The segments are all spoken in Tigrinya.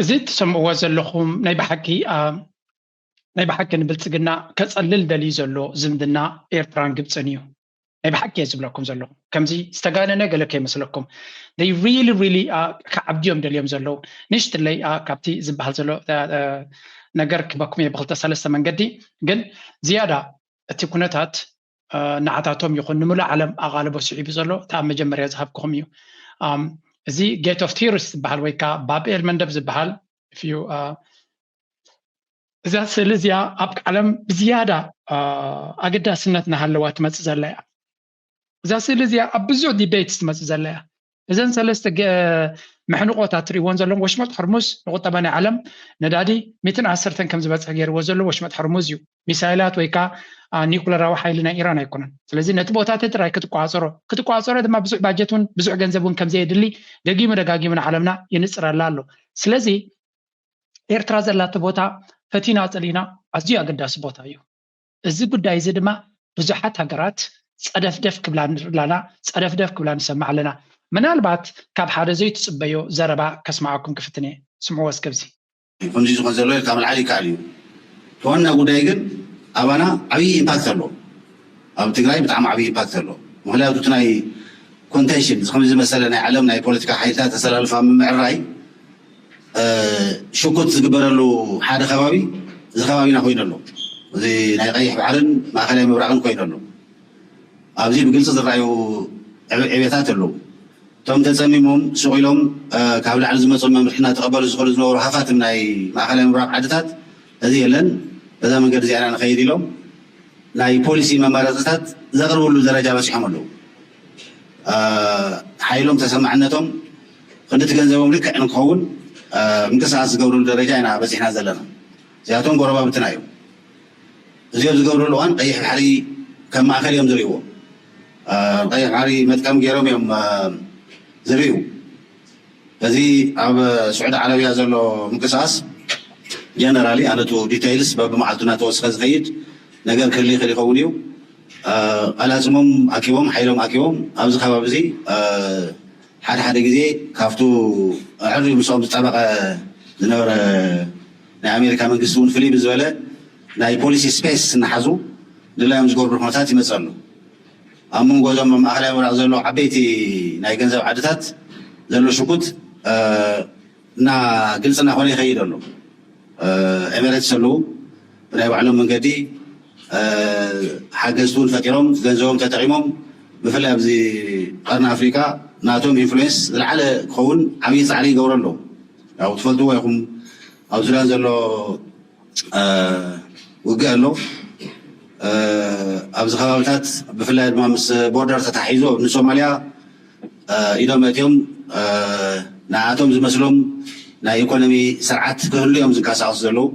እዚ እትሰምዕዎ ዘለኹም ናይ ብሓቂ ናይ ብሓቂ ንብልፅግና ከፀልል ደልዩ ዘሎ ዝምድና ኤርትራን ግብፅን እዩ ናይ ብሓቂ እየ ዝብለኩም ዘለኹ ከምዚ ዝተጋነነ ገለ ከይመስለኩም ይ ሪሊ ሪሊ ክዓብድዮም ደልዮም ዘለዉ ንሽትለይ ካብቲ ዝበሃል ዘሎ ነገር ክበኩም እየ ብክልተ ሰለስተ መንገዲ ግን ዝያዳ እቲ ኩነታት ንዓታቶም ይኹን ንምሉእ ዓለም ኣቓልቦ ስዒቡ ዘሎ እቲ ኣብ መጀመርያ ዝሃብክኹም እዩ እዚ ጌት ኦፍ ቲርስ ዝበሃል ወይ ከዓ ባብኤል መንደብ ዝበሃል እዩ እዛ ስእሊ እዚኣ ኣብ ዓለም ብዝያዳ ኣገዳስነት እናሃለዋ ትመፅእ ዘላ እያ እዛ ስእሊ እዚኣ ኣብ ብዙሕ ዲቤት ትመፅእ ዘላ እያ እዘን ሰለስተ መሕንቆት ኣትሪእዎን ዘለኹም ወሽመጥ ሕርሙዝ ንቁጠባ ናይ ዓለም ነዳዲ ሚትን ዓሰርተን ከም ዝበፅሕ ገይርዎ ዘሎ ወሽመጥ ሕርሙዝ እዩ ሚሳይላት ወይ ከዓ ኒኩለራዊ ሓይሊ ናይ ኢራን ኣይኮነን ስለዚ ነቲ ቦታ እቲ ጥራይ ክትቋፀሮ ክትቋፀሮ ድማ ብዙሕ ባጀት እውን ብዙሕ ገንዘብ እውን ከምዘየድሊ ደጊሙ ደጋጊሙ ንዓለምና የንፅረላ ኣሎ ስለዚ ኤርትራ ዘላቶ ቦታ ፈቲና ፀሊና ኣዝዩ ኣገዳሲ ቦታ እዩ እዚ ጉዳይ እዚ ድማ ብዙሓት ሃገራት ጸደፍደፍ ክብላ ንርኢ ኣላና፣ ጸደፍደፍ ክብላ ንሰምዕ ኣለና። ምናልባት ካብ ሓደ ዘይትጽበዮ ዘረባ ከስምዓኩም ክፍትን እየ። ስምዕዎ እስከ እዚ። ከምዚ ዝኮን ዘሎ ኢልካ ምልዓል ይካኣል እዩ እቲ ዋና ጉዳይ ግን ኣባና ዓብይ ኢምፓክት ኣለዎ ኣብ ትግራይ ብጣዕሚ ዓብይ ኢምፓክት ኣለዎ ምክንያቱ እቲ ናይ ኮንቴንሽን ከምዚ ዝመሰለ ናይ ዓለም ናይ ፖለቲካ ሓይልታት ኣሰላልፋ ምምዕራይ ሽኩት ዝግበረሉ ሓደ ከባቢ እዚ ከባቢና ኮይኑ ኣሎ። እዚ ናይ ቀይሕ ባሕርን ማእከላይ ምብራቕን ኮይኑ ኣሎ። ኣብዚ ብግልጺ ዝረኣዩ ዕብየታት ኣለዉ። እቶም ተጸሚሞም ሱቕ ኢሎም ካብ ላዕሊ ዝመጾም መምርሒ እናተቐበሉ ዝኸዱ ዝነበሩ ሃፋትም ናይ ማእከላይ ምብራቕ ዓድታት እዚ የለን በዛ መንገዲ እዚኣ ኢና ንኸይድ ኢሎም ናይ ፖሊሲ መማረጺታት ዘቕርብሉ ደረጃ በጺሖም ኣለዉ። ሓይሎም ተሰማዕነቶም ክንዲ እቲ ገንዘቦም ልክዕ ንክኸውን ምንቅስቓስ ዝገብርሉ ደረጃ ኢና በፂሕና ዘለና። እዚኣቶም ጎረባብትና እዮም። እዚ ኣብ ዝገብርሉ እዋን ቀይሕ ባሕሪ ከም ማእኸል እዮም ዝሪእዎ። ቀይሕ ባሕሪ መጥቀሚ ገይሮም እዮም ዝሪኡ። እዚ ኣብ ስዑዲ ዓረብያ ዘሎ ምንቅስቓስ ጀነራሊ ኣነ እቱ ዲተይልስ በብመዓልቱ እናተወስኸ ዝኸይድ ነገር ክህሊ ይኽእል ይኸውን እዩ። ቐላፅሞም ኣኪቦም ሓይሎም ኣኪቦም ኣብዚ ከባቢ እዚ ሓደ ሓደ ግዜ ካብቱ ኣዐርዩ ምስኦም ዝጣበቐ ዝነበረ ናይ ኣሜሪካ መንግስቲ እውን ፍልይ ብዝበለ ናይ ፖሊሲ ስፔስ እናሓዙ ድላዮም ዝገብርሉ ኩነታት ይመፅእ ኣሎ። ኣብ መንጎ እዞም ኣብ ማእኸላይ ምብራቕ ዘለዉ ዓበይቲ ናይ ገንዘብ ዓድታት ዘሎ ሽጉጥ እና ግልፂ እናኾነ ይኸይድ ኣሎ። ኤሜሬትስ ኣለው ብናይ ባዕሎም መንገዲ ሓገዝቲ እውን ፈጢሮም ገንዘቦም ተጠቒሞም ብፍላይ ኣብዚ ቐርኒ ኣፍሪቃ ናቶም ኢንፍሉዌንስ ዝለዓለ ክኸውን ዓብዪ ፃዕሪ ይገብሩ ኣለው። ያው ትፈልጥዎ ኢኹም ኣብ ሱዳን ዘሎ ውግእ ኣሎ። ኣብዚ ከባብታት ብፍላይ ድማ ምስ ቦርደር ተተሓሒዙ ንሶማልያ ኢዶም ኣእትዮም ንዓኣቶም ዝመስሎም ናይ ኢኮኖሚ ስርዓት ክህሉ እዮም ዝንቀሳቀሱ ዘለው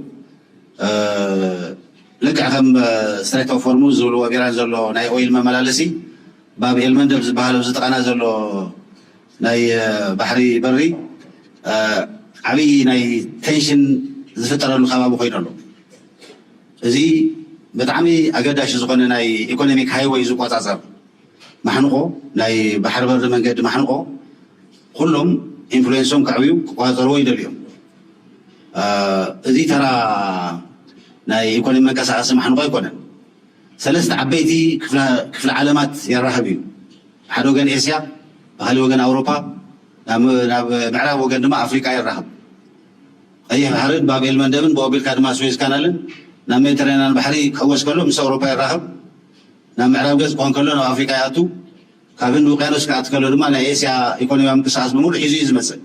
ልክዕ ከም ስትሬት ኦፍ ሆርሙዝ ዝብልዎ ቢራን ዘሎ ናይ ኦይል መመላለሲ ባብ ኤል መንደብ ዝበሃል ኣብዚ ጥቃና ዘሎ ናይ ባሕሪ በሪ ዓብይ ናይ ቴንሽን ዝፍጠረሉ ከባቢ ኮይኑ ኣሎ እዚ ብጣዕሚ ኣገዳሺ ዝኾነ ናይ ኢኮኖሚክ ሃይወይ ዝቆፃፀር ማሕንቖ ናይ ባሕሪ በሪ መንገዲ ማሕንቖ ኹሎም ኢንፍሉዌንሶም ከዕብዩ ክቆፃፀርዎ ይደልዩ እዮም። እዙይ ተራ ናይ ኢኮኖሚ መንቀሳቐሲ ማሕንቖ ኣይኮነን። ሰለስተ ዓበይቲ ክፍለ ዓለማት የራኽብ እዩ። ብሓደ ወገን ኤስያ፣ ብኻሊእ ወገን ኣውሮፓ፣ ናብ ምዕራብ ወገን ድማ ኣፍሪቃ የራኽብ። ቐይሕ ባሕርን ባብ ኤል መንደብን ብኡ ኣቢልካ ድማ ስዌዝ ካናልን ናብ ሜዲትራንያን ባሕሪ ክሕወስ ከሎ ምስ ኣውሮፓ የራኽብ። ናብ ምዕራብ ገፅ ክኾን ከሎ ናብ ኣፍሪካ ይኣቱ፣ ካብ ህንዲ ውቅያኖስ ክኣቲ ከሎ ድማ ናይ ኤስያ ኢኮኖሚያዊ ምንቅስቃስ ብሙሉእ ሒዙ እዩ ዝመፅእ።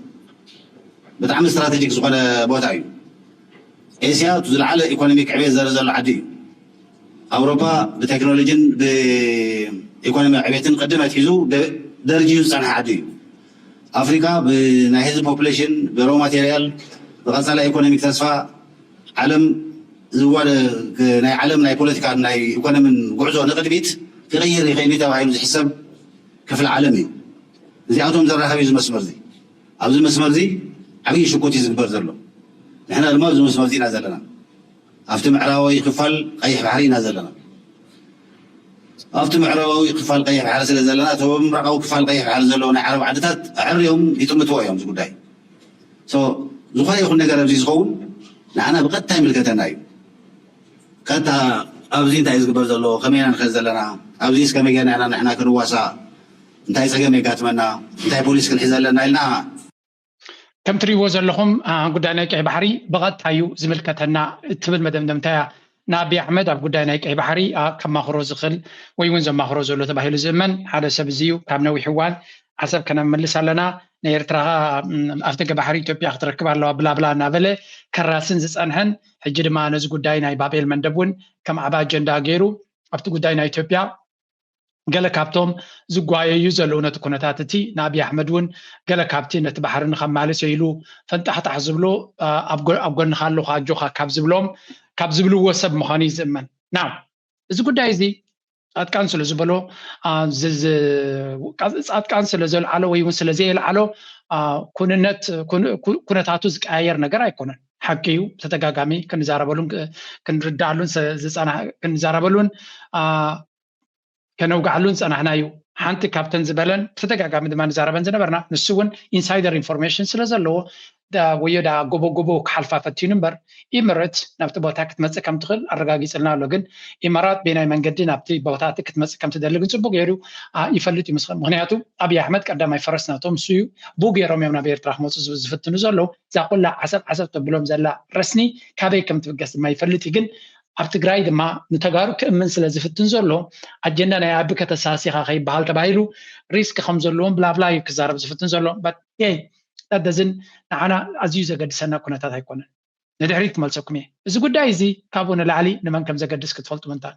ብጣዕሚ ስትራቴጂክ ዝኾነ ቦታ እዩ። ኤስያ እቱ ዝለዓለ ኢኮኖሚክ ዕብየት ዘርኢ ዘሎ ዓዲ እዩ። ኣውሮፓ ብቴክኖሎጂን ብኢኮኖሚያዊ ዕብየትን ቅድም ኣትሒዙ ደርጅዩ ዝፀንሐ ዓዲ እዩ። ኣፍሪቃ ብናይ ህዝቢ ፖፕሌሽን፣ ብሮው ማቴርያል፣ ብቀጻላይ ኢኮኖሚክ ተስፋ ዓለም ዝዋደ ናይ ዓለም ናይ ፖለቲካን ናይ ኢኮኖሚን ጉዕዞ ንቅድሚት ክቅይር ይክእል እዩ ተባሂሉ ዝሕሰብ ክፍሊ ዓለም እዩ። እዚኣቶም ዘራክብ እዩ እዚ መስመር እዚ። ኣብዚ መስመር እዚ ዓብይ ሽኩት እዩ ዝግበር ዘሎ። ንሕና ድማ ኣብዚ መስመር እዚ ኢና ዘለና። ኣብቲ ምዕራባዊ ክፋል ቀይሕ ባሕሪ ኢና ዘለና። ኣብቲ ምዕራባዊ ክፋል ቀይሕ ባሕሪ ስለ ዘለና እቶም ኣብ ምብራቓዊ ክፋል ቀይሕ ባሕሪ ዘለዉ ናይ ዓረብ ዓድታት ኣዐርዮም ይጥምትዎ እዮም እዚ ጉዳይ። So ዝኾነ ይኹን ነገር ኣብዚ ዝኸውን ንዓና ብቐጥታ ይምልከተና እዩ። ቀጥታ ኣብዚ እንታይ እዩ ዝግበር ዘሎ? ከመይ ኢና ንኸድ ዘለና? ኣብዚስ ከመይ ጌርና ኢና ንሕና ክንዋሳእ? እንታይ ጸገም የጋጥመና? እንታይ ፖሊሲ ክንሕዝ ኣለና? ኢልና ከም ትሪእዎ ዘለኹም ጉዳይ ናይ ቀይ ባሕሪ ብቐጥታ እዩ ዝምልከተና እትብል መደምደምታ እያ ንኣቢ ኣሕመድ ኣብ ጉዳይ ናይ ቀይ ባሕሪ ከማኽሮ ዝኽእል ወይ እውን ዘማኽሮ ዘሎ ተባሂሉ ዝእመን ሓደ ሰብ እዚ እዩ ካብ ነዊሕ እዋን ዓሰብ ከነምልስ ኣለና ናይ ኤርትራ ኣብ ደገ ባሕሪ ኢትዮጵያ ክትረክብ ኣለዋ ብላብላ እናበለ ከራስን ዝፀንሐን ሕጂ ድማ ነዚ ጉዳይ ናይ ባቤል መንደብ እውን ከም ዓብ ኣጀንዳ ገይሩ ኣብቲ ጉዳይ ናይ ኢትዮጵያ ገለ ካብቶም ዝጓየዩ ዘለዉ ነቲ ኩነታት እቲ ንኣብይ ኣሕመድ እውን ገለ ካብቲ ነቲ ባሕሪ ንኸማልስ ኢሉ ፈንጣሕጣሕ ዝብሎ ኣብ ጎንኻ ኣለኹ ኣጆኻ ካብ ዝብሎም ካብ ዝብልዎ ሰብ ምዃኑ እዩ ዝእመን ናው እዚ ጉዳይ እዚ ጻድቃን ስለ ዝበሎ ጻድቃን ስለ ዘልዓሎ ወይ እውን ስለ ዘየልዓሎ ኩንነት ኩነታቱ ዝቀያየር ነገር ኣይኮነን ሓቂ እዩ ተደጋጋሚ ክንዛረበሉን ክንርዳኣሉን ክንዛረበሉን ከነውግዓሉ ዝጸናሕና እዩ። ሓንቲ ካብተን ዝበለን ብተደጋጋሚ ድማ ንዛረበን ዝነበርና ንሱ እውን ኢንሳይደር ኢንፎርሜሽን ስለ ዘለዎ ወዮ ደኣ ጎቦጎቦ ክሓልፋ ፈቲኑ እምበር ኢምረት ናብቲ ቦታ ክትመጽእ ከም ትኽእል ኣረጋጊጽልና ኣሎ ግን ኢማራት ቤናይ መንገዲ ናብቲ ቦታ እቲ ክትመጽእ ከም ትደሊ ግን ጽቡቅ ገይሩ ይፈልጥ እዩ ምስኸን ምክንያቱ ኣብዪ ኣሕመድ ቀዳማይ ፈረስ ናቶም ንሱ እዩ ብኡ ገይሮም እዮም ናብ ኤርትራ ክመጹ ዝፍትኑ ዘለዉ እዛ ኩላ ዓሰብ ዓሰብ ተብሎም ዘላ ረስኒ ካበይ ከም ትብገስ ድማ ይፈልጥ እዩ ግን ኣብ ትግራይ ድማ ንተጋሩ ክእምን ስለ ዝፍትን ዘሎ ኣጀንዳ ናይ ኣቢ ከተሳሲኻ ከይበሃል ተባሂሉ ሪስክ ከም ዘለዎም ብላብላ እዩ ክዛረብ ዝፍትን ዘሎ ዳደዝን ንዓና ኣዝዩ ዘገድሰና ኩነታት ኣይኮነን ንድሕሪት ክመልሰኩም እየ እዚ ጉዳይ እዚ ካብኡ ንላዕሊ ንመን ከም ዘገድስ ክትፈልጡ ምንታን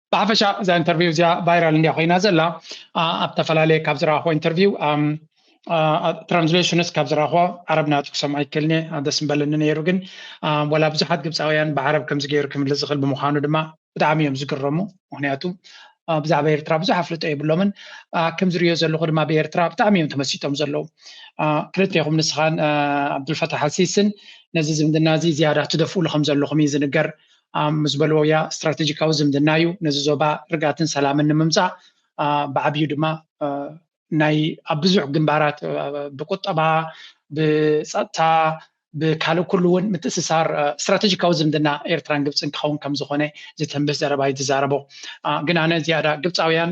ብሓፈሻ እዛ ኢንተርቪው እዚኣ ቫይራል እንድያ ኮይና ዘላ ኣብ ተፈላለየ ካብ ዝረኣኹ ኢንተርቪው ትራንስሌሽንስ ካብ ዝረኣኹ ዓረብ ናቱ ክሰምዖ ይክእልኒ ደስ ምበለኒ ነይሩ ግን ወላ ብዙሓት ግብፃውያን ብዓረብ ከምዚ ገይሩ ክምልስ ዝኽእል ብምዃኑ ድማ ብጣዕሚ እዮም ዝግረሙ ምክንያቱ ብዛዕባ ኤርትራ ብዙሕ ኣፍልጦ የብሎምን ከምዝሪዮ ዘለኹ ድማ ብኤርትራ ብጣዕሚ እዮም ተመሲጦም ዘለዉ ክልቴኹም ንስኻን ዓብዱልፈታሕ ኣልሲስን ነዚ ዝምድና እዚ ዝያዳ ትደፍእሉ ከም ዘለኹም እዩ ዝንገር ምስ በልዎያ ስትራቴጂካዊ ዝምድና እዩ። ነዚ ዞባ ርግኣትን ሰላምን ንምምፃእ ብዓብዩ ድማ ናይ ኣብ ብዙሕ ግንባራት ብቁጠባ፣ ብፀጥታ፣ ብካልእ ኩሉ እውን ምትእስሳር ስትራቴጂካዊ ዝምድና ኤርትራን ግብፅን ክኸውን ከምዝኾነ ዝተንብህ ዘረባ እዩ ዝዛረቦ። ግን ኣነ ዝያዳ ግብፃውያን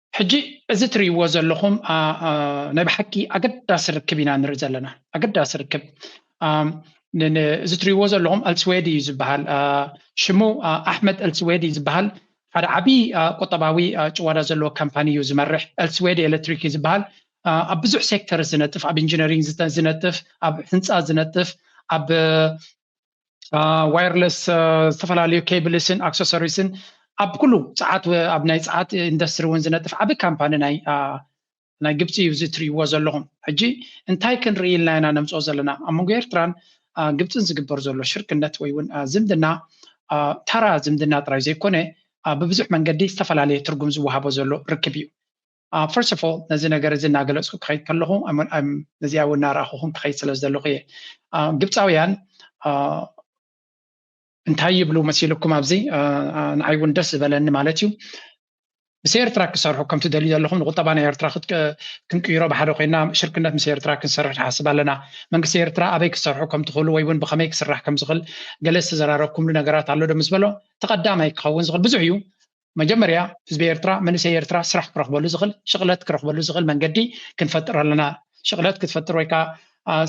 ሕጂ እዚ ትሪእዎ ዘለኹም ናይ ብሓቂ ኣገዳሲ ርክብ ኢና ንርኢ ዘለና ኣገዳሲ ርክብ እዚ ትሪእዎ ዘለኹም ኣልስዌድ እዩ ዝበሃል ሽሙ ኣሕመድ ኣልስዌድ እዩ ዝበሃል ሓደ ዓብዪ ቁጠባዊ ጭዋዳ ዘለዎ ካምፓኒ እዩ ዝመርሕ ኤልስዌድ ኤሌክትሪክ እዩ ዝበሃል ኣብ ብዙሕ ሴክተር ዝነጥፍ ኣብ ኢንጂነሪንግ ዝነጥፍ ኣብ ህንፃ ዝነጥፍ ኣብ ዋየርለስ ዝተፈላለዩ ኬብልስን ኣክሰሰሪስን ኣብ ኩሉ ፀዓት ኣብ ናይ ፀዓት ኢንዱስትሪ እውን ዝነጥፍ ዓብ ካምፓኒ ናይ ናይ ግብፂ እዩ እዚ ትሪእዎ ዘለኹም ሕጂ እንታይ ክንርኢ ኢልና ኢና ነምፅኦ ዘለና ኣብ መንጎ ኤርትራን ግብፅን ዝግበር ዘሎ ሽርክነት ወይ እውን ዝምድና ታራ ዝምድና ጥራይ ዘይኮነ ብብዙሕ መንገዲ ዝተፈላለየ ትርጉም ዝወሃቦ ዘሎ ርክብ እዩ First of all ነዚ ነገር እዚ እናገለፅኩ ክኸይድ ከለኹ ነዚኣ እውን እናረኣኹኹም ክኸይድ ስለ ዘለኹ እየ ግብፃውያን እንታይ ይብሉ መሲልኩም ኣብዚ ንዓይ እውን ደስ ዝበለኒ ማለት እዩ ምስ ኤርትራ ክሰርሑ ከም ትደልዩ ዘለኹም ንቁጠባ ናይ ኤርትራ ክንቅይሮ ብሓደ ኮይና ሽርክነት ምስ ኤርትራ ክንሰርሕ ንሓስብ ኣለና መንግስቲ ኤርትራ ኣበይ ክሰርሑ ከም ትኽእሉ ወይ እውን ብኸመይ ክስራሕ ከም ዝኽእል ገለ ዝተዘራረብኩምሉ ነገራት ኣሎ ዶ ምስ በሎ ተቐዳማይ ክኸውን ዝኽእል ብዙሕ እዩ መጀመርያ ህዝቢ ኤርትራ መንእሰይ ኤርትራ ስራሕ ክረክበሉ ዝክል ሽቅለት ክረክበሉ ዝክል መንገዲ ክንፈጥር ኣለና ሽቅለት ክትፈጥር ወይካ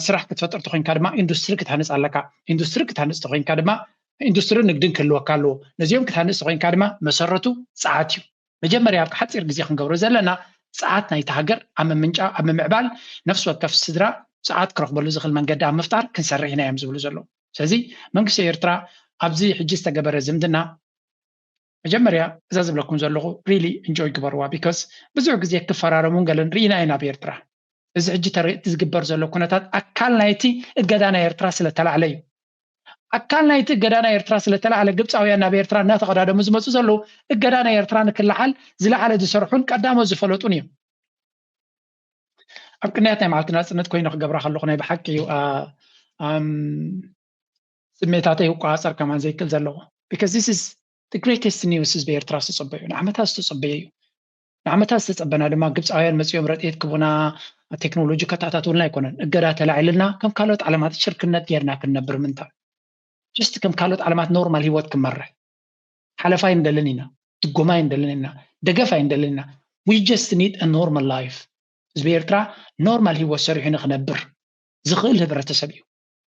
ስራሕ ክትፈጥር ተኮይንካ ድማ ኢንዱስትሪ ክትሃንፅ ኣለካ ኢንዱስትሪ ክትሃንፅ ተኮይንካ ድማ ኢንዱስትሪ ንግድን ክህልወካ ኣለዎ ነዚኦም ክትሃንፅ ተኮይንካ ድማ መሰረቱ ፀዓት እዩ መጀመርያ ኣብ ሓፂር ግዜ ክንገብሮ ዘለና ፀዓት ናይቲ ሃገር ኣብ ምምንጫ ኣብ ምምዕባል ነፍሲ ወከፍ ስድራ ፀዓት ክረክበሉ ዝኽእል መንገዲ ኣብ ምፍጣር ክንሰርሕ ኢና እዮም ዝብሉ ዘለዉ ስለዚ መንግስቲ ኤርትራ ኣብዚ ሕጂ ዝተገበረ ዝምድና መጀመርያ እዛ ዝብለኩም ዘለኹ ሪሊ እንጆይ ግበርዋ ቢኮዝ ብዙሕ ግዜ ክፈራረሙን ገለን ርኢና ኢና ኣብ ኤርትራ እዚ ሕጂ ተርእቲ ዝግበር ዘሎ ኩነታት ኣካል ናይቲ እገዳ ናይ ኤርትራ ስለተላዕለ እዩ ኣካል ናይቲ እገዳ ናይ ኤርትራ ስለተላዕለ ግብፃውያን ናብ ኤርትራ እናተቐዳደሙ ዝመፁ ዘለዉ እገዳ ናይ ኤርትራ ንክለዓል ዝለዓለ ዝሰርሑን ቀዳሞ ዝፈለጡን እዮም ኣብ ቅንያት ናይ መዓልቲ ናፅነት ኮይኑ ክገብራ ከለኹ ናይ ብሓቂ እዩ ስሜታተይ ክቆጻጸር ከማን ዘይክል ዘለዎ because this is the greatest news ህዝቢ ኤርትራ ዝተጸበዮ ንዓመታት ዝተጸበዮ እዩ ንዓመታት ዝተጸበና ድማ ግብጻውያን መጺኦም ረድኤት ክቡና ቴክኖሎጂ ከታታትውልና ኣይኮነን እገዳ ተላዒልና ከም ካልኦት ዓለማት ሽርክነት ጌርና ክንነብር ምንታን ጀስት ከም ካልኦት ዓለማት ኖርማል ህይወት ክመርሕ ሓለፋ ኣይንደልን ኢና ድጎማ ኣይንደልን ኢና ደገፍ ኣይንደልን ኢና we just need a normal life ህዝቢ ኤርትራ ኖርማል ህይወት ሰሪሑ ንክነብር ዝኽእል ህብረተሰብ እዩ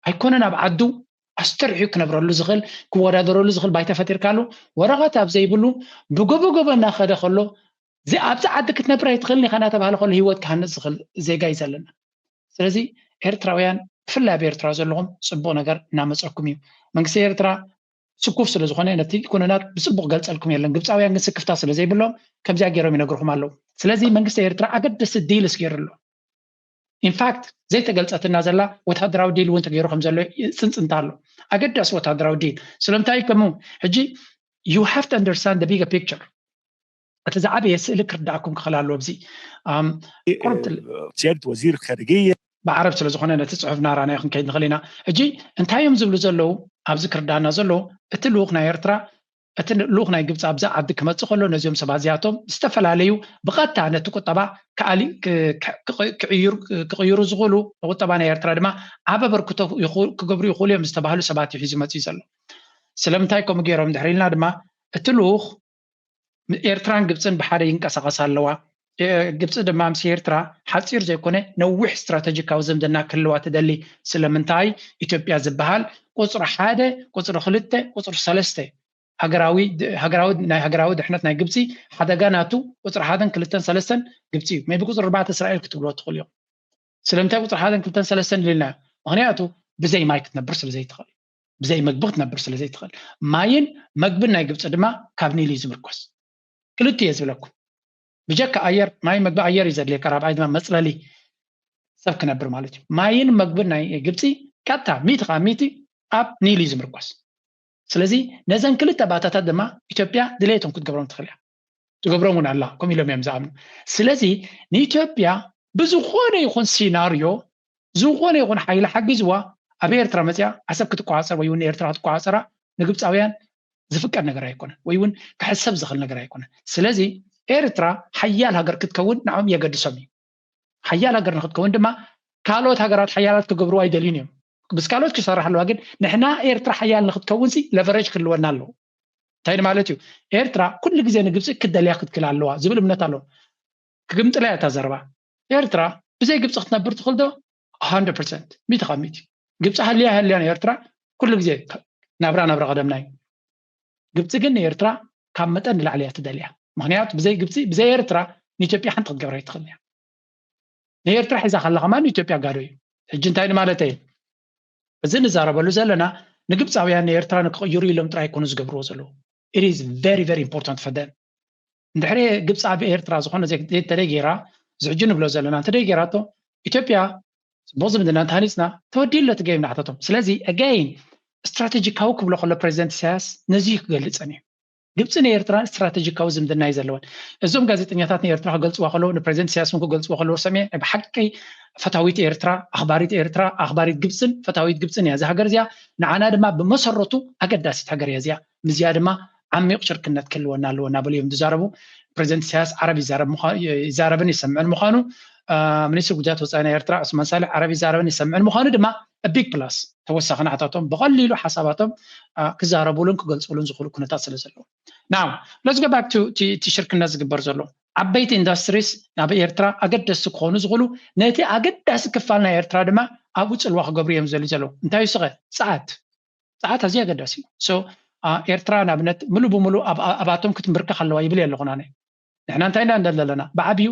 ኣይኮነን ኣብ ዓዱ ኣስተርሕዩ ክነብረሉ ዝኽእል ክወዳደረሉ ዝኽእል ባይታ ፈጢርካሉ ወረቐት ኣብ ዘይብሉ ብገበገበ እናኸደ ከሎ ኣብዛ ዓዲ ክትነብር ኣይትኽእልን ኢኻ እናተባሃለ ከሎ ሂወት ክሃንፅ ዝኽእል ዜጋ እዩ ዘለና ስለዚ ኤርትራውያን ብፍላይ ኣብ ኤርትራ ዘለኹም ፅቡቕ ነገር እናመፀኩም እዩ መንግስቲ ኤርትራ ስኩፍ ስለ ዝኾነ ነቲ ኩነናት ብፅቡቕ ገልፀልኩም የለን ግብፃውያን ግን ስክፍታ ስለ ዘይብሎም ከምዚኣ ገይሮም ይነግርኹም ኣለዉ ስለዚ መንግስቲ ኤርትራ ኣገደሲ ዲልስ ገይሩ ኣሎ ኢንፋክት ዘይተገልጸትና ዘላ ወተሃደራዊ ዲል እውን ተገይሩ ከም ዘሎ ጽንጽንታ ኣሎ ኣገዳሲ ወተሃደራዊ ዲል ስለምንታይ ከምኡ ሕጂ ዩ ሃቭ ቱ ኣንደርስታንድ ደ ቢገ ፒክቸር እቲ ዝዓበየ ስእሊ ክርዳእኩም ክኽእል ኣለዎ እዚ ጀድ ወዚር ከርግየ ብዓረብ ስለ ዝኾነ ነቲ ፅሑፍ ናራናዮ ክንከይድ ንኽእል ኢና ሕጂ እንታይ እዮም ዝብሉ ዘለዉ ኣብዚ ክርዳእና ዘለዎ እቲ ልኡኽ ናይ ኤርትራ እቲ ልኡኽ ናይ ግብፂ ኣብዚ ዓዲ ክመፅእ ከሎ ነዚኦም ሰባት እዚኣቶም ዝተፈላለዩ ብቐጥታ ነቲ ቁጠባ ክቕይሩ ዝኽእሉ ንቁጠባ ናይ ኤርትራ ድማ ዓብ ኣበርክቶ ክገብሩ ይኽእሉ እዮም ዝተባህሉ ሰባት እዩ ሒዙ መፂኡ ዘሎ ስለምንታይ ከምኡ ገይሮም ድሕሪ ኢልና ድማ እቲ ልኡኽ ኤርትራን ግብፅን ብሓደ ይንቀሳቐሳ ኣለዋ ግብፂ ድማ ምስ ኤርትራ ሓፂር ዘይኮነ ነዊሕ ስትራተጂካዊ ዝምድና ክህልዋ ትደሊ። ስለምንታይ ኢትዮጵያ ዝበሃል ቁፅሪ ሓደ፣ ቁፅሪ ክልተ፣ ቁፅሪ ሰለስተ ሃገራዊ ሃገራዊ ናይ ሃገራዊ ድሕነት ናይ ግብፂ ሓደጋ ናቱ ቁፅሪ ሓደን ክልተን ሰለስተን ግብፂ እዩ። ሜቢ ቁፅሪ ኣርባዕተ እስራኤል ክትብልዎ ትኽእሉ ኢኹም። ስለምንታይ ቁፅሪ ሓደን ክልተን ሰለስተን ኢልናዮ? ምኽንያቱ ብዘይ ማይ ክትነብር ስለ ዘይትኽእል፣ ብዘይ ምግቢ ክትነብር ስለ ዘይትኽእል። ማይን መግብን ናይ ግብፂ ድማ ካብ ኒል እዩ ዝምርኮስ። ክልቲኡ እየ ዝብለኩም ብጀካ ኣየር ማይ መግቢ ኣየር እዩ ዘድልየካ ራብዓይ ድማ መፅለሊ ሰብ ክነብር ማለት እዩ ማይን መግብን ናይ ግብፂ ቀጥታ ሚእቲ ከዓ ሚእቲ ኣብ ኒል እዩ ዝምርኮስ ስለዚ ነዘን ክልተ ባእታታት ድማ ኢትዮጵያ ድሌቶም ክትገብሮም ትኽእል እያ ትገብሮም እውን ኣላ ከምኡ ኢሎም እዮም ዝኣምኑ ስለዚ ንኢትዮጵያ ብዝኾነ ይኹን ሲናርዮ ዝኾነ ይኹን ሓይሊ ሓጊዝዋ ኣብ ኤርትራ መጺኣ ዓሰብ ክትቆጻጸር ወይ ውን ንኤርትራ ክትቆጻጸራ ንግብጻውያን ዝፍቀድ ነገር ኣይኮነን ወይ ውን ክሕሰብ ዝኽእል ነገር ኣይኮነን። ስለዚ ኤርትራ ሓያል ሃገር ክትከውን ንዖም የገድሶም እዩ። ሓያል ሃገር ንክትከውን ድማ ካልኦት ሃገራት ሓያላት ክገብርዋ ኣይደልዩን እዮም። ምስ ካልኦት ክሰርሕ ኣለዋ ግን ንሕና ኤርትራ ሓያል ንክትከውንሲ ለቨረጅ ክህልወና ኣለዎ። እንታይ ማለት እዩ ኤርትራ ኩሉ ግዜ ንግብጺ ክትደልያ ክትክል ኣለዋ ዝብል እምነት ኣለዎም። ክግምጥላ እያ እታ ዘረባ። ኤርትራ ብዘይ ግብፂ ክትነብር ትኽእል ዶ ሃንድረድ ፐርሰንት ሚእቲ ካብ ሚእቲ ግብፂ ሃልያ ኣይሃልያን ኤርትራ ኩሉ ግዜ ናብራ ናብራ ቀደምና እዩ ግብፂ ግን ንኤርትራ ካብ መጠን ንላዕሊ እያ ትደልያ ምክንያቱ ብዘይ ግብፂ ብዘይ ኤርትራ ንኢትዮጵያ ሓንቲ ክትገብራ ይትኽእል እያ ንኤርትራ ሒዛ ከላ ከማ ንኢትዮጵያ ጋዶ እዩ ሕጂ እንታይ ንማለት እየ እዚ ንዛረበሉ ዘለና ንግብፃውያን ንኤርትራ ንክቕይሩ ኢሎም ጥራይ ኮኑ ዝገብርዎ ዘለዉ ኢት ኢዝ ቨሪ ቨሪ ኢምፖርታንት ፈር ደም እንድሕሪ ግብፂ ኣብ ኤርትራ ዝኾነ ዘይተደይ ገይራ እዚ ሕጂ ንብሎ ዘለና እንተደይ ገይራቶ ኢትዮጵያ ፅቡቅ ዝምድና እንተሃኒፅና ተወዲኡ ኣሎ እቲ ገይም ናሕተቶም ስለዚ ኣጋይን ስትራቴጂካዊ ክብሎ ከሎ ፕሬዚደንት ኢሳያስ ነዚ እዩ ክገልፀን እዩ ግብፂ ንኤርትራን ስትራቴጂካዊ ዝምድና እዩ ዘለወን እዞም ጋዜጠኛታት ንኤርትራ ክገልፅዋ ከለዉ ንፕሬዚደንት ኢሳያስ እውን ክገልፅዎ ከለዎ ሰሚዐ ናይ ብሓቂ ፈታዊት ኤርትራ ኣኽባሪት ኤርትራ ኣኽባሪት ግብፅን ፈታዊት ግብፅን እያ እዛ ሃገር እዚኣ ንዓና ድማ ብመሰረቱ ኣገዳሲት ሃገር እያ እዚኣ ምስዚኣ ድማ ዓሚቕ ሽርክነት ክህልወና ኣለዎ እናበሉ እዮም ዝዛረቡ። ፕረዚደንት ኢሳያስ ዓረብ ይዛረብን ይሰምዕን ምዃኑ ሚኒስትር ጉዳያት ወፃኢ ናይ ኤርትራ ዑስማን ሳልሕ ዓረብ ይዛረብን ይሰምዕን ምዃኑ ድማ ቢግ ፕላስ ተወሳኺ ናዕታቶም ብቐሊሉ ሓሳባቶም ክዛረቡሉን ክገልፅሉን ዝኽእሉ ኩነታት ስለ ዘለዎ ናው ለስ ጎ ባክ እቲ ሽርክነት ዝግበር ዘሎ ዓበይቲ ኢንዱስትሪስ ናብ ኤርትራ ኣገደስቲ ክኾኑ ዝኽእሉ ነቲ ኣገዳሲ ክፋል ናይ ኤርትራ ድማ ኣብኡ ፅልዋ ክገብሩ እዮም ዘሉ ዘለዉ እንታይ ይስኸ ፀዓት ጸዓት ኣዝዩ ኣገዳሲ እዩ so ኤርትራ ንኣብነት ምሉ ብምሉ ኣብኣቶም ክትምብርከኽ ኣለዋ ይብል የለኹን ኣነ ንሕና እንታይ ኢና ንደሊ ዘለና ብዓብዩ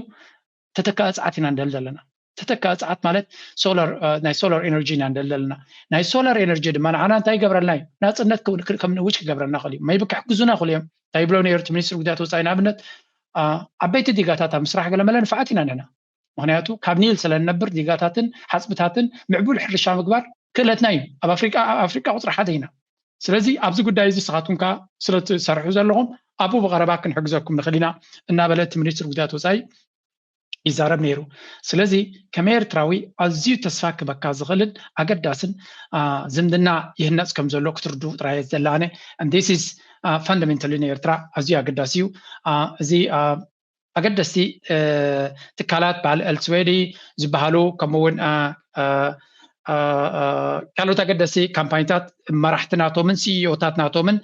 ተተካኢ ጸዓት ኢና ንደሊ ዘለና ተተካኢ ጸዓት ማለት ሶላር ናይ ሶላር ኤነርጂ ኢና ንደሊ ዘለና ናይ ሶላር ኤነርጂ ድማ ንዓና እንታይ ይገብረልና እዩ ናጽነት ከም ንእውጅ ክገብረና ክእል እዩ መይቢ ክሕግዙና ክእሉ እዮም እንታይ ይብሎ ነሩ እቲ ሚኒስትሪ ጉዳያት ወፃኢ ንኣብነት ዓበይቲ ዲጋታት ኣብ ምስራሕ ገለመለ ንፍዓት ኢና ንሕና ምክንያቱ ካብ ኒል ስለንነብር ዲጋታትን ሓፅብታትን ምዕቡል ሕርሻ ምግባር ክእለትና እዩ ኣብ ኣፍሪቃ ኣብ ኣፍሪቃ ቁፅሪ ሓደ ኢና ስለዚ ኣብዚ ጉዳይ እዚ ንስኻትኩም ከ ስለትሰርሑ ዘለኹም ኣብኡ ብቐረባ ክንሕግዘኩም ንኽእል ኢና እናበለ እቲ ሚኒስትር ጉዳያት ወፃኢ ይዛረብ ነይሩ ስለዚ ከም ኤርትራዊ ኣዝዩ ተስፋ ክበካ ዝኽእልን ኣገዳስን ዝምድና ይህነፅ ከም ዘሎ ክትርድኡ ጥራየ ዘላነ ስ ፈንዳሜንታሊ ንኤርትራ ኣዝዩ ኣገዳሲ እዩ እዚ ኣገደስቲ ትካላት በዓል ኤልስዌዲ ዝበሃሉ ከምኡ እውን ካልኦት ኣገደሲ ካምፓኒታት መራሕቲ ናቶምን ሲኢኦታት ናቶምን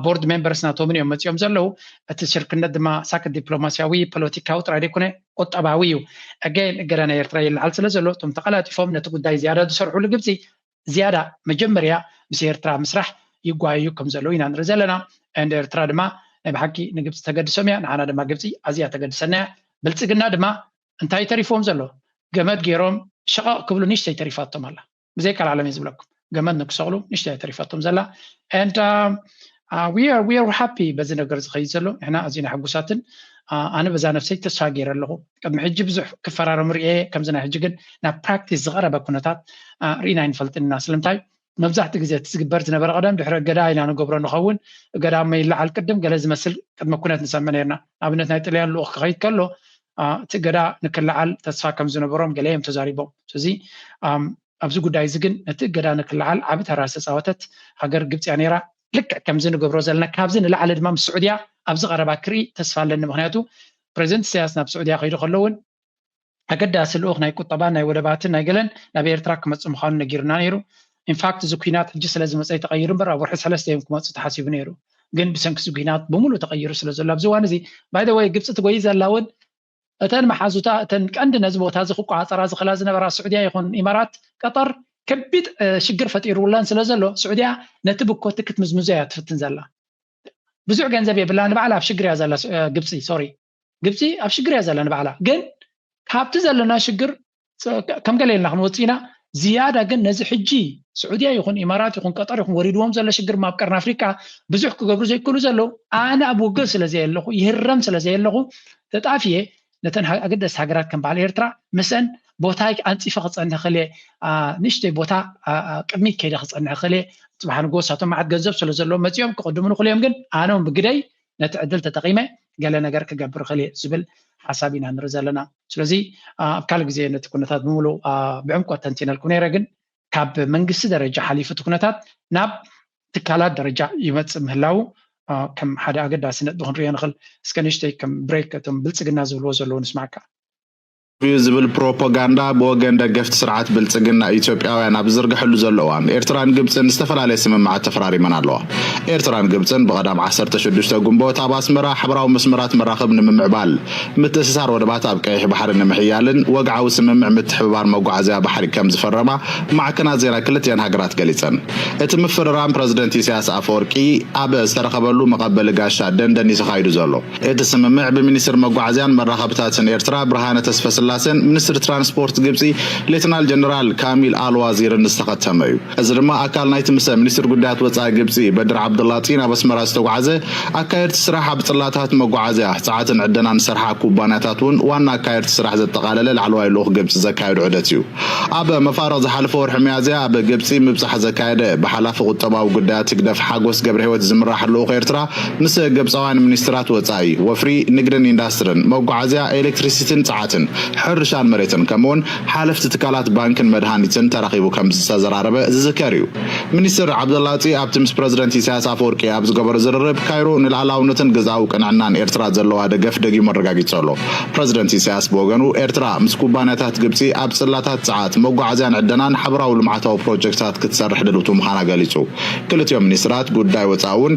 ቦርድ ሜምበርስ ናቶምን እዮም መፂኦም ዘለዉ እቲ ሽርክነት ድማ ሳክ ዲፕሎማስያዊ ፖለቲካዊ ጥራይ ዘይኮነ ቁጠባዊ እዩ ኣገን እገዳ ናይ ኤርትራ ይለዓል ስለ ዘሎ እቶም ተቀላጢፎም ነቲ ጉዳይ ዝያዳ ዝሰርሕሉ ግብፂ ዝያዳ መጀመርያ ምስ ኤርትራ ምስራሕ ይጓየዩ ከም ዘለዉ ኢና ንርኢ ዘለና and ኤርትራ ድማ ናይ ብሓቂ ንግብጺ ተገድሶም እያ ንዓና ድማ ግብጺ ኣዝያ ተገድሰና እያ ብልጽግና ድማ እንታይ ተሪፍዎም ዘሎ ገመድ ጌሮም ሸቐቕ ክብሉ ንሽተይ ተሪፋቶም ኣላ ብዘይ ቀልዓለም እየ ዝብለኩም ገመድ ንክሰቕሉ ንሽተይ እያ ተሪፋቶም ዘላ and ሃፒ በዚ ነገር ዝኸይድ ዘሎ ንሕና ኣዝና ሕጉሳትን ኣነ በዛ ነፍሰይ ተስፋ ገይረ ኣለኹ ቅድሚ ሕጂ ብዙሕ ክፈራረሙ ርኤ ከምዚ ናይ ሕጂ ግን ናብ ፕራክቲስ ዝቐረበ ኩነታት ርኢና ኣይንፈልጥን ኢና ስለምንታይ መብዛሕትኡ ግዜ እቲ ዝግበር ዝነበረ ቀደም ድሕሪ እገዳ ኢና ንገብሮ ንኸውን እገዳ እሞ ይለዓል ቅድም ገለ ዝመስል ቅድሚ ኩነት ንሰምዕ ነርና ኣብነት ናይ ጥልያን ልኡኽ ክኸይድ ከሎ እቲ እገዳ ንክለዓል ተስፋ ከም ዝነበሮም ገለ እዮም ተዛሪቦም ስለዚ ኣብዚ ጉዳይ እዚ ግን ነቲ እገዳ ንክለዓል ዓቢ ተራ ዝተጻወተት ሃገር ግብጺ'ያ ነይራ። ልክዕ ከምዚ ንገብሮ ዘለና ካብዚ ንላዕሊ ድማ ምስ ስዑድያ ኣብዚ ቀረባ ክርኢ ተስፋ ኣለኒ ምኽንያቱ ፕረዚደንት እሰያስ ናብ ስዑድያ ከይዱ ከሎ ውን ኣገዳሲ ልኡኽ ናይ ቁጠባን ናይ ወደባትን ናይ ገለን ናብ ኤርትራ ክመጽእ ምዃኑ ነጊሩና ነይሩ ኢንፋክት እዚ ኩናት ሕጂ ስለ ዝመጸ'ዩ ተቐይሩ እምበር ኣብ ወርሒ ሰለስተ እዮም ክመጹ ተሓሲቡ ነይሩ ግን ብሰንኪ እዚ ኩናት ብሙሉእ ተቐይሩ ስለ ዘሎ ኣብዚ እዋን እዚ ባይ ዘ ወይ ግብጺ ትጎይ ዘላ ውን እተን መሓዙታ እተን ቀንዲ ነዚ ቦታ እዚ ክቆፃፀራ ዝኽእላ ዝነበራ ስዑድያ ይኹን ኢማራት ቀጠር ከቢድ ሽግር ፈጢሩለን ስለዘሎ ስዑድያ ነቲ ብኮቲ ክትምዝምዞ እያ ትፍትን ዘላ ብዙሕ ገንዘብ የብላ ንባዕላ ኣብ ሽግር እያ ዘላ ግብፂ ሶሪ ግብፂ ኣብ ሽግር እያ ዘላ ንባዕላ ግን ካብቲ ዘለና ሽግር ከም ገለ ኢልና ክንወጽእ ኢና ዝያዳ ግን ነዚ ሕጂ ስዑድያ ይኹን ኢማራት ይኹን ቀጠር ይኹን ወሪድዎም ዘሎ ሽግር ኣብ ቀርኒ ኣፍሪቃ ብዙሕ ክገብሩ ዘይክእሉ ዘለዉ ኣነ ኣብ ውግእ ስለ ዘየለኹ ይህረም ስለ ዘየለኹ ተጣፍየ ነተን ኣገደስቲ ሃገራት ከም በዓል ኤርትራ ምስአን ቦታይ ኣንፂፈ ክፀንሕ ክእለ ንእሽተይ ቦታ ቅድሚት ከይደ ክፀንሕ ክእለ ፅባሕ ንጎ ሳቶም መዓት ገንዘብ ስለ ዘለዎ መፂኦም ክቅድሙ ንክእሉ እዮም ግን ኣነ ብግደይ ነቲ ዕድል ተጠቂመ ገለ ነገር ክገብር እኽእል እየ ዝብል ሓሳብ ኢና ንርኢ ዘለና ስለዚ ኣብ ካልእ ግዜ ነቲ ኩነታት ብምሉእ ብዕምቆት ተንቲነልኩ ነይረ ግን ካብ መንግስቲ ደረጃ ሓሊፉ እቲ ኩነታት ናብ ትካላት ደረጃ ይመፅእ ምህላው ከም ሓደ ኣገዳሲ ነጥቢ ክንሪኦ ንኽእል እስከ ንእሽተይ ከም ብሬክ እቶም ብልፅግና ዝብልዎ ዘለዎ ንስማዕካ እዩ ዝብል ፕሮፖጋንዳ ብወገን ደገፍቲ ስርዓት ብልጽግና ኢትዮጵያውያን ኣብ ዝዝርገሐሉ ዘሎ እዋን፣ ኤርትራን ግብጽን ዝተፈላለየ ስምምዓት ተፈራሪመን ኣለዋ። ኤርትራን ግብጽን ብቀዳም ዓሰርተ ሽዱሽተ ግንቦት ኣብ ኣስመራ ሓበራዊ መስመራት መራኽብ ንምምዕባል፣ ምትእስሳር ወደባት ኣብ ቀይሕ ባሕሪ ንምሕያልን ወግዓዊ ስምምዕ ምትሕብባር መጓዓዝያ ባሕሪ ከምዝፈረማ ማዕከናት ዜና ክልቲኣን ሃገራት ገሊጸን። እቲ ምፍርራም ፕረዚደንት ኢሳያስ ኣፈወርቂ ኣብ ዝተረኸበሉ መቀበሊ ጋሻ ደንደን እዩ ተኻይዱ ዘሎ። እቲ ስምምዕ ብሚኒስትር መጓዓዝያን መራኸብታትን ኤርትራ ብርሃነ ተስፈስላሴን ሚኒስትር ትራንስፖርት ግብጺ ሌተናል ጀነራል ካሚል ኣል ዋዚርን ዝተኸተመ እዩ። እዚ ድማ ኣካል ናይቲ ምሰ ሚኒስትር ጉዳያት ወጻኢ ግብጺ በድር ዓብዱላጢ ናብ ኣስመራ ዝተጉዓዘ ኣካየድቲ ስራሕ ኣብ ጽላታት መጓዓዝያ፣ ጸዓትን ዕደናን ዝሰርሓ ኩባንያታት'ውን ዋና ኣካየድቲ ስራሕ ዘጠቓለለ ላዕለዋይ ልኡኽ ግብጺ ዘካየዶ ዑደት እዩ። ኣብ መፋርቕ ዝሓለፈ ወርሒ ሚያዝያ ኣብ ግብጺ ምብጻሕ ዘካየደ ብሓላፊ ቁጠባዊ ጉዳያት ህግደፍ ሓጎስ ገብረሂወት ዝምራሕ ልኡኽ ኤርትራ ምስ ግብጻውያን ሚኒስትራት ወጻኢ፣ ወፍሪ፣ ንግድን ኢንዳስትርን፣ መጓዓዝያ፣ ኤሌክትሪሲቲን ጽዓትን፣ ሕርሻን መሬትን ከምኡ'ውን ሓለፍቲ ትካላት ባንክን መድሃኒትን ተራኺቡ ከምዝተዘራረበ ዝዝከር እዩ። ሚኒስትር ዓብደላጢ ኣብቲ ምስ ፕረዚደንት ኢሳያስ ኣፈወርቂ ኣብ ዝገበሮ ዝርርብ ካይሮ ንልኣላውነትን ግዝኣዊ ቅንዕናን ኤርትራ ዘለዋ ደገፍ ደጊሙ ኣረጋጊጹ ኣሎ። ፕረዚደንት ኢሳያስ ብወገኑ ኤርትራ ምስ ኩባንያታት ግብጺ ኣብ ጽላታት ጸዓት፣ መጓዓዝያን ዕደናን ሓበራዊ ልምዓታዊ ፕሮጀክትታት ክትሰርሕ ድልውቲ ምዃና ገሊጹ። ክልቲኦም ሚኒስትራት ጉዳይ ወጻኢ'ውን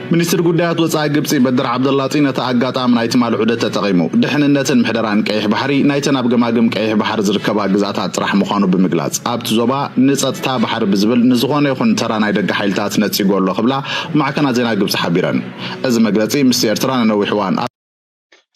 ሚኒስትር ጉዳያት ወጻኢ ግብጺ በድር ዓብደላጢ ነቲ ኣጋጣሚ ናይ ትማሊ ዑደት ተጠቒሙ፣ ድሕንነትን ምሕደራን ቀይሕ ባሕሪ ናይተን ኣብ ገማግም ቀይሕ ባሕሪ ዝርከባ ግዝኣታት ጥራሕ ምዃኑ ብምግላጽ፣ ኣብቲ ዞባ ንጸጥታ ባሕሪ ብዝብል ንዝኾነ ይኹን ተራ ናይ ደገ ሓይልታት ነጺጎ ኣሎ ክብላ ማዕከናት ዜና ግብጺ ሓቢረን። እዚ መግለጺ ምስቲ ኤርትራ ንነዊሕ እዋን ኣብ።